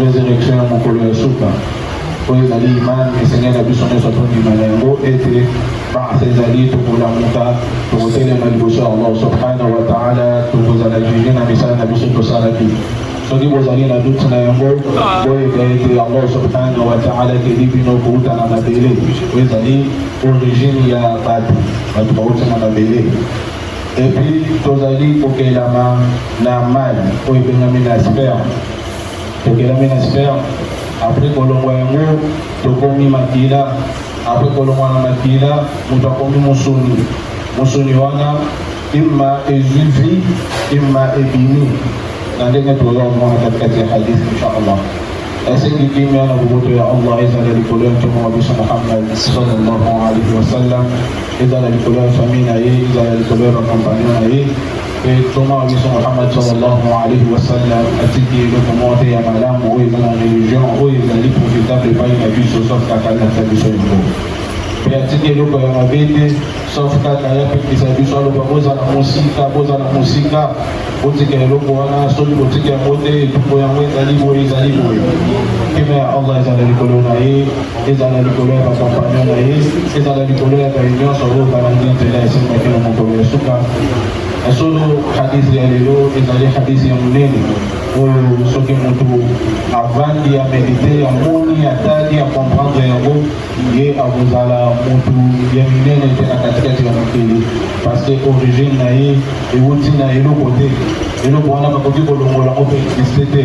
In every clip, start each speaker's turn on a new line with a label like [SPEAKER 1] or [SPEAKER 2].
[SPEAKER 1] Resurrection ya mokolo ya suka oyo ezali imani esengeli na biso nyonso tondima na yango ete basa ezali tokolamuka tokotelema liboso ya allah subhanahu wa taala tokozala juge na misala na biso tosalaki soki bozali na duti na yango boyeba ete allah subhanahu wa taala ekeli bino kouta na mabele oyo ezali origine ya bato bato bauti na mabele epuis tozali kokelama na mai oyo ebengami na sperme tokelami na sperme apres kolongwa yango tokomi makila apres kolongwa na makila moto akomi mosuni mosuni wana ima ezwi vi ima ebimi na ndenge toza komona katikati ya hadis inchallah esengi kimia na boboto ya allah ezala likolo ya ntoma wa biso muhammad sallallahu alaihi wasallam ezala likolo ya famille na ye ezala likolo ya bakompagnon na ye Mpe ntoma wa biso Muhammad sallallahu alayhi wa sallam atiki eloko moko te ya malamu oyo eza na religion oyo ezali profitable epai na biso sauf kaka alakisa biso yango mpe atiki eloko ya mabe te sauf kaka ye apekisa biso aloba bozala mosika bozala mosika botika eloko wana soki botika yango te etumbo yango ezali boye ezali boye kima ya allah ezala likolo na ye ezala likolo ya bakompagnon na ye ezala likolo ya baye nyonso oyo balandi nzela esimaki na mokolo ya suka ya solo hadisi ya lelo ezali hadisi ya monene oyo soki motu avandi ya medite ya moni ya tali ya comprendre yango ye akozala motu ya minene te na katikati ya mokili parce que origine na ye ewuti na eloko te eloko wana bakoki kolongola ope existe te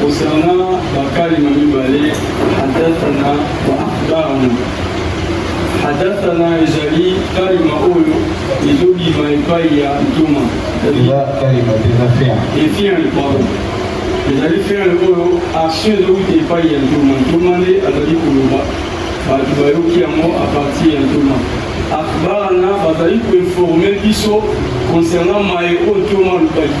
[SPEAKER 2] kosana bakalima mibale hadathana wa akhbarana hadathana ezali kalima oyo ezobima epai ya ntoma
[SPEAKER 1] efiani
[SPEAKER 2] pardon ezali fiani oyo action ezowuta epai ya ntoma ntoma nde azali koloba bato bayoki yango apartir ya ntoma akhbarana bazali koinforme biso concernant maye oyo ntoma alobaki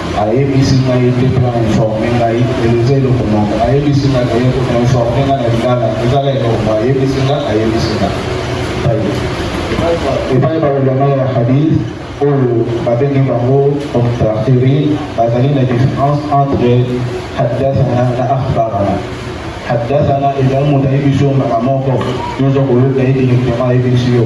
[SPEAKER 1] Ayebisi ngai te mpe ainforme ngai eza eloko moko. Ayebisi ngai aye koinforme ngai na lingala ezala eloko moko. Ayebisi ngai ayebisi ngai epai balobama ya hadith oyo babengi bango omtafiri bazali na différence entre haddathana na akhbarana haddathana ezali moto ayebi biso mbaka moko nyonso koyoka ye directement ayebi biso yo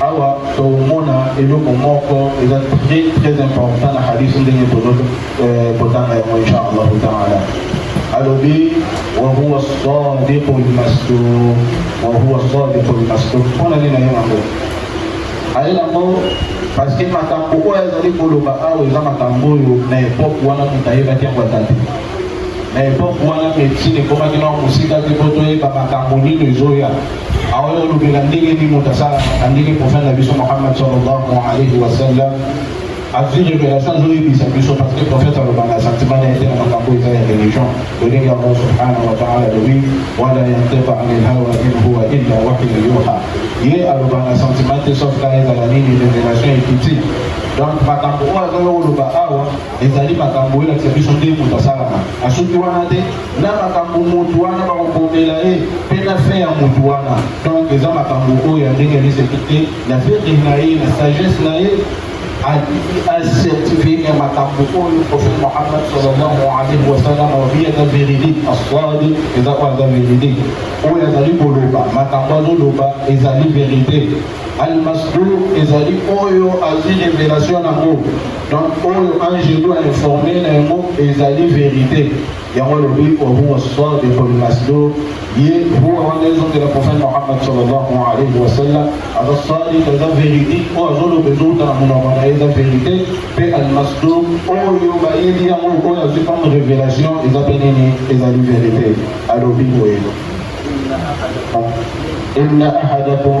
[SPEAKER 1] Awa tomona eloko moko eza très très important na hadith ndenge tozo euh, kotanga yango inshallah taala alobi wa huwa sadiqu lmasduq wa huwa sadiqu lmasduq mpona nini nayo yango aye yango parce que makambo oyo azali koloba awa eza makambo oyo na epoke wana moto ayebaki yango ata te na epoke wana medicine ekomaki na mosika te mpo toyeba makambo nini ezoya Awa yo olobela ndenge nini moto asalaka na ndenge profete na biso Muhammad sallallahu alayhi wa sallam azwi revelation azoyebisa biso parce que profete aloba na sentiment na ye te na makambo eza ya religion lolenge yango subhanahu wa taala alobi wala yantiqa anil hawa in huwa illa wahyu yuha ye aloba na sentiment te sauf ka ezala nini revelation ekiti donc makambo oyo azoya koloba awa ezali makambo oyo elakisa biso nde moto asalaka asoki wana te na makambo motu wana bakobomela ye mpe na fin ya motu wana donc eza makambo oyo ya ndenge alizaki te na verre na ye na sagesse na ye acertifie ya makambo oyo prophète mohammad sallallahu alaihi wasallam alobi eza véridique aswadi eza oyo aza véridique oyo azali koloba makambo azoloba ezali vérité almasdur ezali oyo azwi révélation yango Donc oyo Angelo a informe na yango ezali verite yango lobi wahuwa sadiqu lmasduq ye huwa wana ezongela prophète mohammad sallallahu alayhi wa sallam aza sadiq eza verite oyo azoloba ezowuta na monoko na ye eza verite mpe almasduq oyo bayebi yango oyo azwi comme révélation eza mpe nini ezali verite alobi boye inna ahadakum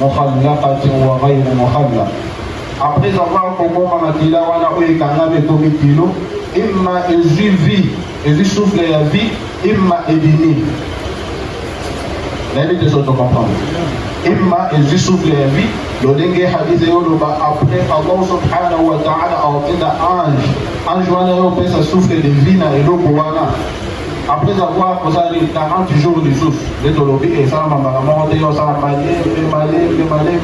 [SPEAKER 1] Mukhallaqatin wa ghayri mukhallaq Après avoir koboma makila wana oyo ekangami ekomi kilo, imma ezwi vie, ezwi souffle ya vie, imma ebimi. Nayebi te soki tocomprendre. imma ezwi souffle ya vie lolenge hadise yoloba après allah subhanahu wa taala aotinda ange ange wana yo opesa souffle de vie na eloko wana Après avoir osali 40 jours lisusu nde tolobi esalama mbala moko te osala maye mpe maye mpe maye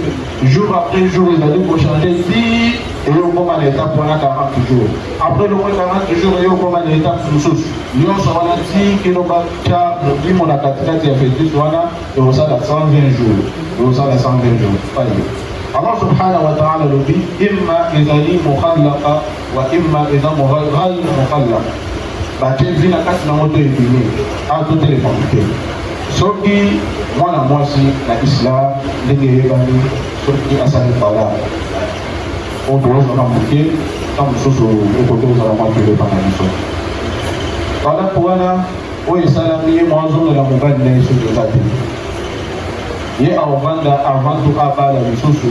[SPEAKER 1] jour après jour ezali kochange ti eye okoma na etape wana 40 jours après loko 40 jours eye okoma na etape mosusu nyonso wana ti kino batya molimo na katikati ya fetus wana ekosala 120 jours ekosala 120 jours paye Allah subhanahu wa ta'ala alobi imma ezali mukhallaka Wa imma eza moral ral mokalla batie vi na kati nango to ebimi a to telefone te soki mwana mwasi na islam ndenge eyebani soki asali bala oyo tokozala moke ntango mosusu ekoki kozala mwa keleba na biso balako wana oyo esalami ye mwazongela mobali na ye soki eza te ye akovanda avantu abala lisusu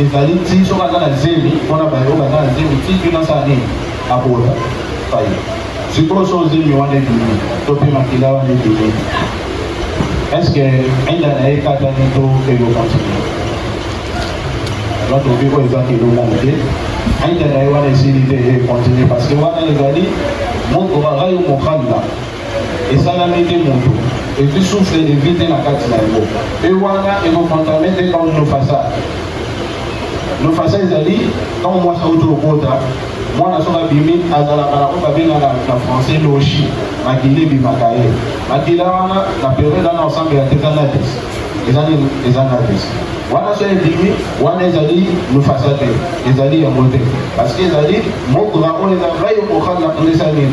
[SPEAKER 1] Ezali ti soki aza na zemi mpona baye oyo baza na zemi ti bino asala nini abota faye sikoyo so zemi wana ebimi to mpe makila wana ebimi eske enda na ye ekatani to ekokontinue donc obi oyo eza kilo moke te enda na ye wana esili te ekontinue parce que wana ezali mokorayo mokalla esalami te moto epuis souffle evi te na kati na yango mpe wana ekokontrame te comme nofasa nofasa ezali ntango mwasi auti lokota mwana soki abimi azalaka na oyo babengaka na français loshi makila ebimaka ye makila wana na periode wana osambe ya teka nadis eza nini eza nadis wana so ebimi wana ezali nofasa te ezali yango te parce que ezali mogra oyo eza ngai okokanisa nini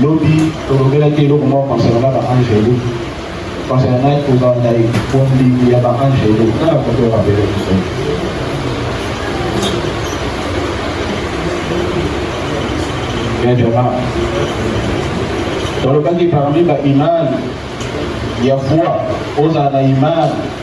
[SPEAKER 1] Lobi tolobelaki eloko moko concernant na ba angelu concernant na kozala na bondimi ya ba angelu na bakoto ya mabele biso Benjamin tolobaki parmi ba imani ya foi ozala na imani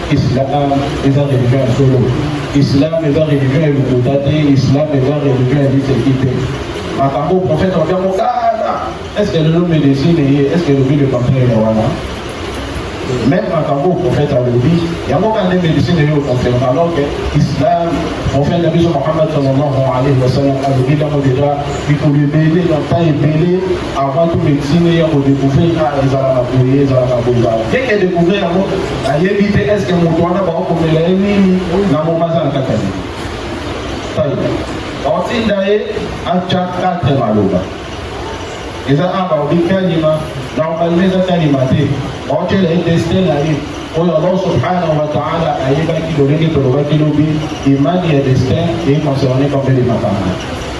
[SPEAKER 1] Islam eza religion ya solo. Islam eza religion ya lokuta te. Islam eza religion ya liseki te. Makambo profeta wabia mokala. Est-ce que lelo medecine eye? Est-ce que lobi le contraire ya wana? Même makambo profeta alobi yango kaka nde medecine eye oconfirme alors que islam profeta biso Muhammad sallallahu alayhi wa sallam alobi yango deja mikolo ebele na temps ebele Avant tout medicine ya ko découvrir ka ezala na boye ezala na boye ba. Dès que découvrir yango ayebi te est-ce que moto wana ba ko mela ye nini na mobaza na kati ya nini. Tayi. Baotinda ye acha kate maloba. Eza aba obi kalima na obalima eza kalima te. Baotyela ye destin na ye oyo allah subhanahu wa taala ayebaki lolenge tolobaki lobi imani ya destin econcerne bambele makambo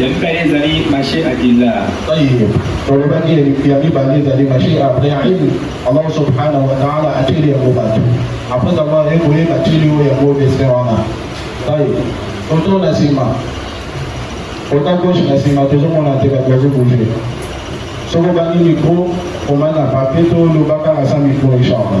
[SPEAKER 3] ya mibale ezali
[SPEAKER 1] mashe adilla olobaki ya mibale ezali mashe abrahim allah subhanahu wa taala atyeli yango bato apres avoir ekoye batyeli oyo yango destin wana tai oto na nsima ota gauche na nsima tozomona te bato bazobouge soki obangi mikro omana papier to olobaka na sa mikro echange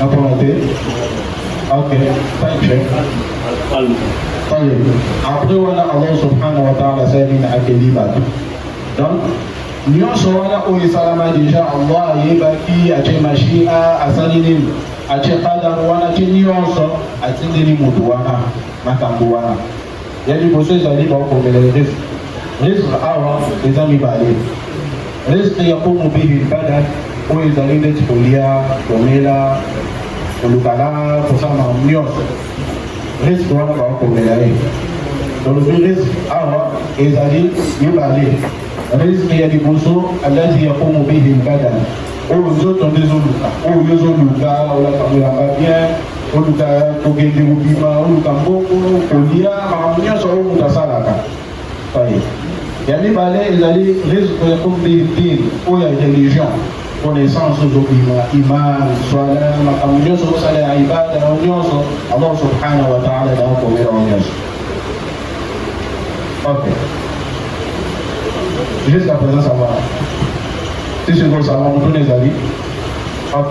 [SPEAKER 1] Napona te. Ok, thank you. Après wana Allah subhanahu wa ta'ala asali na akeli bato. Donc nyonso wana oyo esalama deja Allah ayebaki atie mashia asali nini atie qadar wana atie nyonso atindeli moto wana makambo wana ya liboso ezali bakomela risque risque awa eza mibale risque ya komobili bada oyo ezali ndeti kolia komela kolukala kosala nyonso risque wana bakomela ye tolobi risque awa ezali mibale risque ya liboso alati ya komobili bada oyo nzoto nde ezoluka oyo ezoluka olaka koyamba bien oluka kokende kobima oluka mbongo kolia makambo nyonso oyo moto asalaka paye ya mibale ezali risque ya kombirdir oyo ya religion connaissance ozobima image swala makambo nyonso osala ya ibada yango nyonso allah subhanahu wa taala naokomela yango nyonso ok jusqu'à présent ça va tisikosawa motuna ezali ok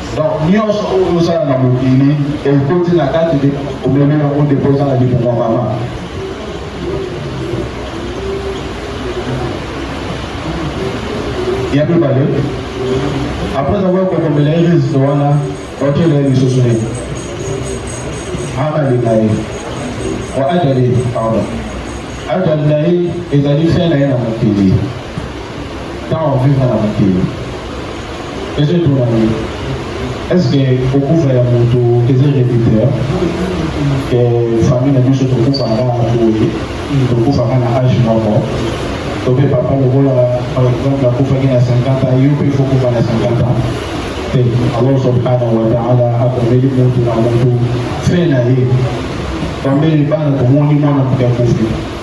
[SPEAKER 1] Donc nyonso oyo ozosala na mokili ekoti na kati de omemi yango nde mpoza na libonga mama ya mibale apres avoir kokomela ye lisite wana otyela ye lisusu ye akalinga ye o ajali pardon ajali na ye ezali fin na ye na mokili ntango vivre na mokili Eza etuna na yo. Est-ce que kokufa ya moto eza héréditaire? Eh, famille na biso tokufa nga na boye, tokufa nga na âge moko. Tobe papa lokola par exemple akufaki na 50 ans, yo pe faut kufa na 50 ans. Te, Allah subhanahu wa ta'ala akomeli moto na moto fin na ye. Bambele bana tomoni mwana moto akufi.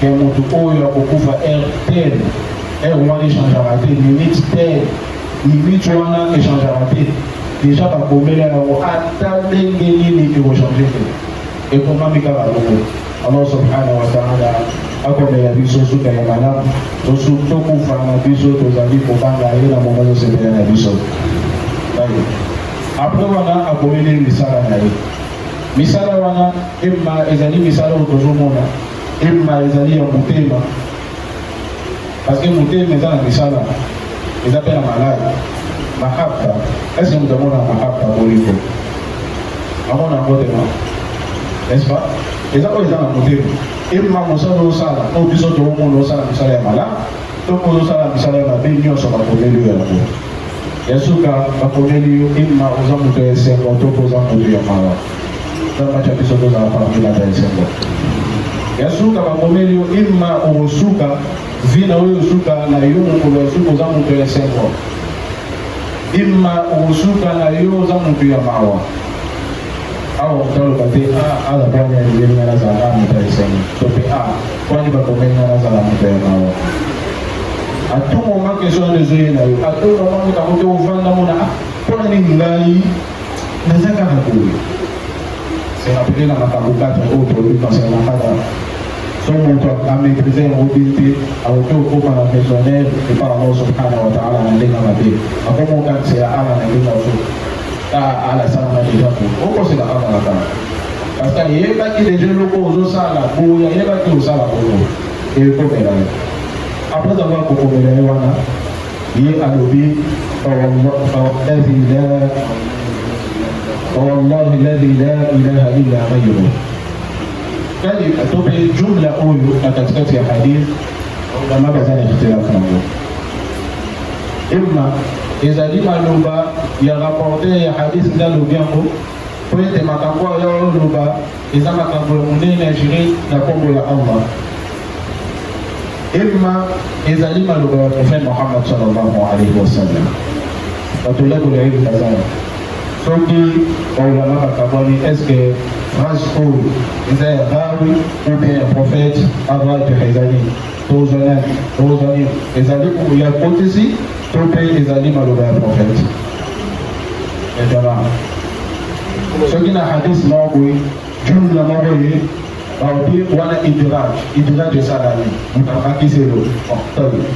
[SPEAKER 1] ke mutu oyo akokufa heure tel heure wana echangeaka te minute tel minute wana echangeaka te deja bakomela yango ata ndenge nini ekochange te ekomami kaka loko allah subhanahu wa taala akomela biso suka ya malamu tosu tokufa na biso tozali kobanga ye na moko tosepela na biso apres wana akomeli misala na ye misala wana ema ezali misala oyo tozomona Himma ezali ya motema, parce que motema eza na misala, eza mpe na malade. Mahabba, est-ce que moto amona mahabba bolingo? Amona yango te non? N'est-ce pas? Eza oyo eza na motema. Himma mosala osala, oyo biso tokomona osala misala ya malamu, to mpo osala misala ya mabe nyonso bakomeli yo yango. Ya suka bakomeli yo himma oza moto ya esengo to mpo oza moto ya mawa. na match ya biso tozala parmi la esengo ya suka bakomeli yo ima okosuka vi na oyo osuka na yo mokolo ya suka oza moto ya esengo ima okosuka na yo oza moto ya mawa awa moto aloba te aza bwana yeli nga nazala nga moto ya esengo to mpe a kwani bakomeli nga nazala moto ya mawa atungo nga kesho wana ezoyela yo atungo nga moto yango te ovanda mona mpona nini ngai naza kaka boye serapele na makambo kati oyo tolobi concernant kaka so moto amaîtrise yango bien te akoki kokoma na maisonnaire epa allah subhanahu wataala na ndenge mabe akoma okanisa ya ala na ndenge oso ta ala salama deja po okosela kaka na kaka parce que ayebaki deja eloko ozosala boye ayebaki osala boye ekomela ye après avoir kokomela ye wana Ye alobi wallahi ladi la ilaha illa ghayru kali tope jumla oyo na katikati ya hadith bama baza na kitilafu yango imma ezali maloba ya rapporter ya hadith nde alobi yango mpo ete makambo oyo oloba Eza makambo ya monene ya jure na kombo ya Allah. Emma ezali maloba ya prophète Mohammed sallallahu alayhi wa sallam. Bato ya kola yebi bazala. Soki baulama bakabwani eske phrase oyo eza ya rawi ou bien ya prophète avant epeka eza nini? Tozali, tozali, ezali buku ya kotisi to mpe ezali maloba ya profeti? Etala soki na hadis moko boye jumla moko ye baobi wana idraj idraj esalami mutamakiselo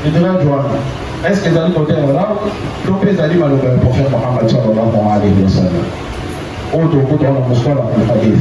[SPEAKER 1] idraj wana est ce que ezali kote ya rab to mpe ezali maloba ya profete mohamad sallallahu alaihi wasallam oyo tokuta wana mosala ya hadis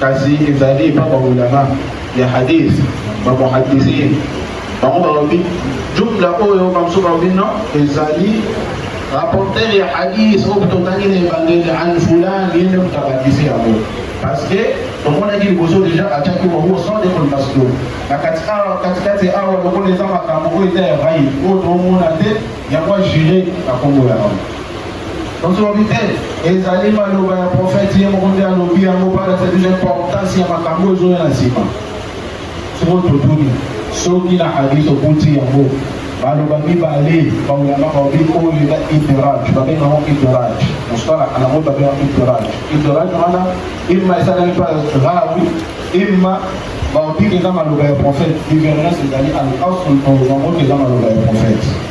[SPEAKER 1] Kasi ezali epa ba ulama ya hadith ba muhaddisin bango balobi jumla oyo bamosusu balobi no ezali rapporter ya hadith oyo totangi na ebandeli an fulan ye nde moto abakisi yango parce que tomonaki liboso deja atiaki bango sans decolmasio na katikati awa lokola eza makambo oyo eza ya rai oyo toomona te yango ajure na kombo ya bango Bozobi te, ezali maloba ya profeti ye moko nde alobi yango mpaka ezali na importance ya makambo ezoya na nsima. Soko totuni soki na hadith okuti yango baloba mibale baulama baobi oyo eza idraj babenga yango idraj mosala yango babenga idraj idraj wana imma esalami mpa rawi imma baobi eza maloba ya prophète divergence ezali al asl yango eza maloba ya prophète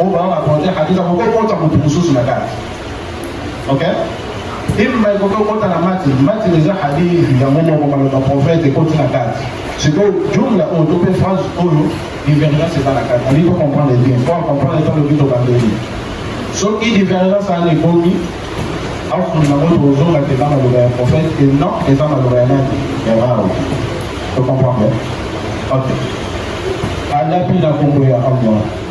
[SPEAKER 1] oyo bango bakonte hadisa koki okota motu mosusu na kati ok imba ekoki okota na mati mati eza hadisi yango moko maloba profete ekoti na kati sikoyo jumla oyo to mpe phrase oyo divergence eza na kati alingi tocomprendre bien po acomprendre to loki tobandeli soki divergence ana ekomi afunga yango tozonga te eza maloba ya profete e non eza maloba ya nani ya rao tocomprendre ok alapi na kombo ya allah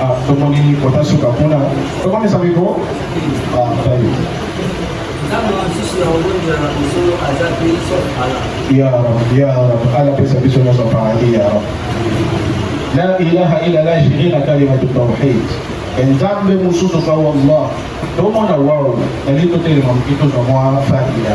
[SPEAKER 1] Ah, tomoni kota suka kuna tokomisa miko ah, tayo ya ya ala pesa biso nyonso paradis ya la ilaha illa la shirina kalimatu tauhid enzambe mosusu ka wallah tomona wao nali totelema moki tozwa mwa fatiya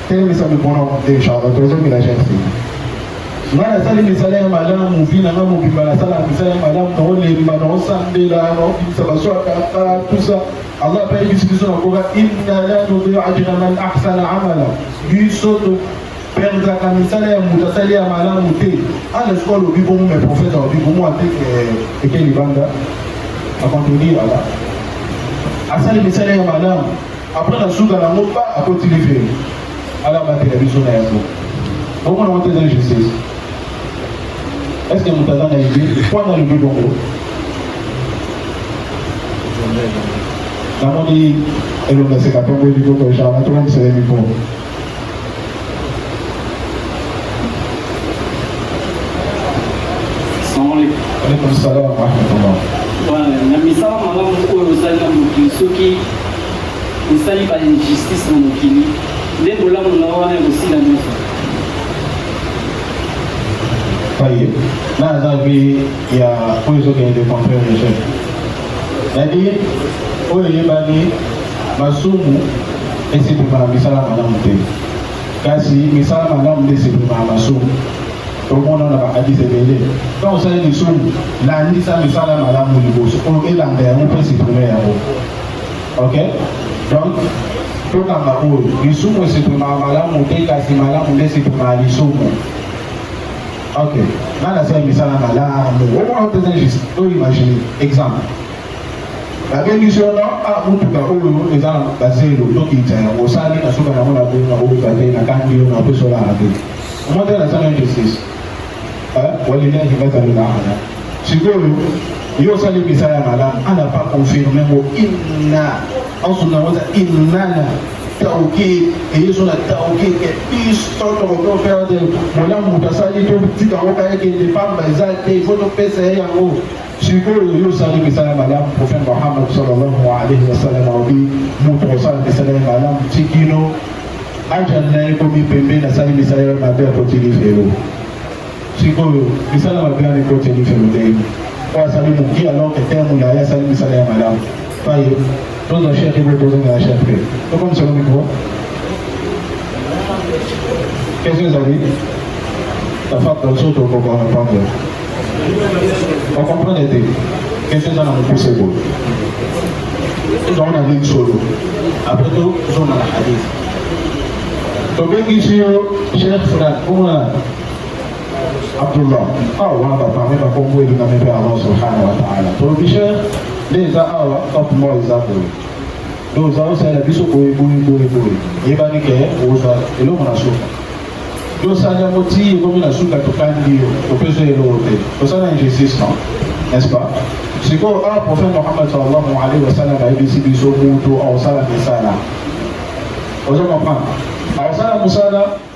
[SPEAKER 1] telemisa mikono deja tozongela jeune fille nga nasali misala ya malamu vi nanga mobimba nasala misala ya malamu naolemba naosambela naobimisa baso ya kaka tusa allah mpe ayebisi biso na koka inna la nudiu ajra man ahsana amala biso toperdaka misala ya moto asali ya malamu te ana sikoyo alobi bongo me profete alobi bongo ate eh, eke libanda akontredire ala asali misala ya malamu Après na suka na ngo ba akoti lifelo. Ala batela biso na yango. Bongo na wote ezali justice. Est-ce que moto aza na idée mpo na lobi bongo? Namoni elonga seka mpe boyebi koko ejana tokokisela bipo. na
[SPEAKER 4] misala malamu oyo ozali na mokili soki osali ba injustice na mokili nde bolamu na wana ekosila nyonso
[SPEAKER 1] ya oyo ezokende de contraire de chef nadi oyo eyebani masumu esepema na misala malamu te kasi misala malamu nde esepema na masumu tomona na bakadisi ebele ntango osali lisumu landisa misala malamu liboso oyo elanda yango mpe esepema yango ok donc tokanga oyo lisumu esepema malamu te kasi malamu nde esepema ya lisumu Ok, nga nasali misala malamu omona mpenza juste to imagine exemple babengisi yo na ah, motuka oyo eza na bazelo tokitisa yango osali na suka yango na boyi na koluka te nakangi yo na mpeso olala te omona te nasala injustice walilahi bazalelahana sikoyo yo osali misala ya malamu ana pa confirme ngo inna ensunaoza innana tauki eyeso na tauki ke biso tokoki ofere te bolamu moto asali totika yango kaka ekende mpamba eza te ifo topesa ye yango sikoyo yo osali misala malamu prophète mohamad sallallahu alaihi wasallam alobi moto osala misala ya malamu tikino ajali na ye ekomi pembe nasali misala ya mabe akotilisa yo Sikoyo misala mabe wana ekoti elife modei oyo asali moki alors que terme na ye asali misala ya malamu paye tozwa chef ebe tozonga ya chef te tokomisolo mikro question ezali tafaka biso tokoka repondre okomprendre te question eza na mokuse boye tozango na ndenge solo apres tozonga na hadith tobengisi yo chef fran omona Abdullah awa wana baparle na kombo elingami mpe Allah subhanahu wa taala provision nde eza awa top law eza boye do oza osalela biso boye boye boye boye yebani ke oza eloko na suka yo osala yango ti ekomi na suka tokandi yo opesa eloko te osala injustice non n'est-ce pas sikoyo awa prophète mohamad sallallahu alaihi wasallam ayebisi biso moto aosala misala ozo comprendre aosala mosala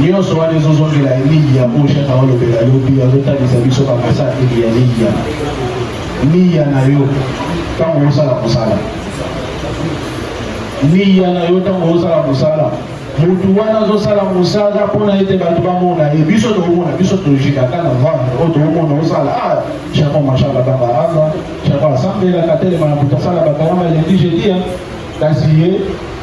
[SPEAKER 1] nyonso wana ezozongela eliya oyo shaka olobela lobi azotalisa biso bamesateli ya liya liya na yo ntango osala mosala liya na yo ntango osala mosala motu wana azosala mosala mpona ete bato bamona ye biso tokomona biso tozikaka na vane oyo tokomona osala a ah, chako mashaka bangaranga chako asambelaka telema na moto asala bakarama eleki jedia kasi ye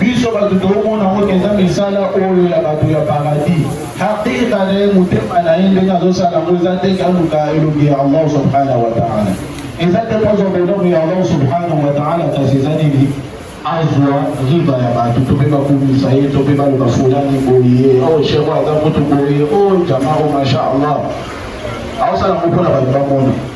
[SPEAKER 1] biso bato tokomona yango mpenza misala oyo ya bato ya paradis hakika na ye motema na ye ndenge azosala yango eza te kaluka elongi ya allah subhanahu wa taala eza te kozwa bonoko ya allah subhanahu wa taala kasi eza nini azwa riba ya bato to mpe bakumisa ye to mpe baloba fulani boye o oh, sheko aza kutu boye o oh, jamaro masha allah aosala yango mpo na bato bamona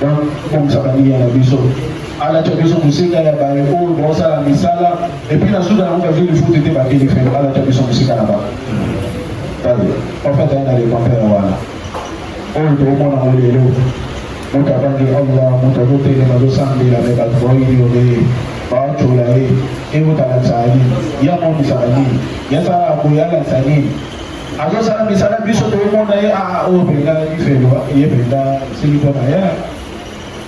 [SPEAKER 1] donc kobongisa baninga na biso alata biso mosika ya baye oyo baosala misala epuis na suka yango bazwi lifuti te bakeli felo alata biso mosika na bango tale ofata ye na lekompere wana oyo tokomona ngo lelo moto abangi allah moto azotelema azosambela me bato baoyini obe bacola ye eyotalakisa nini yamonisaka nini yasala boye alakisa nini azosala misala biso tokomona ye aa ah, oyo oh, mpenza ifelo ye mpenza esili mpo na ye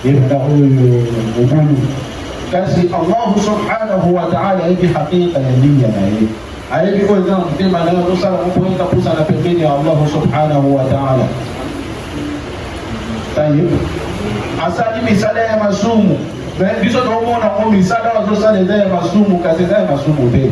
[SPEAKER 1] ye mpenza oyo mobulu kasi allahu subhanahu wa taala ayebi hakika ya linya na ye ayebi oyo eza na motema na ye azosala mopoyeka pusana pembeni ya allahu subhanahu wa taala taye asali misala ya masumu biso tokomona ngo misala azosala eza ya masumu kasi eza ya masumu te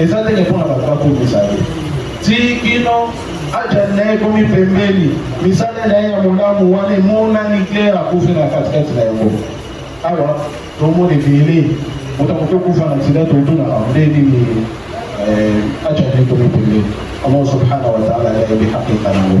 [SPEAKER 1] eza ndenge mpo na bato bakomisa ye ti kino ajali na ye ekomi pembeni misala na ye ya molamu wana emonani klere akufi na katikati na yango awa tomona ebele moto akoki okufa na nsida totunaka nde nini ajali ekomi pembeni allah subhanahu wataala yayebi hakika nango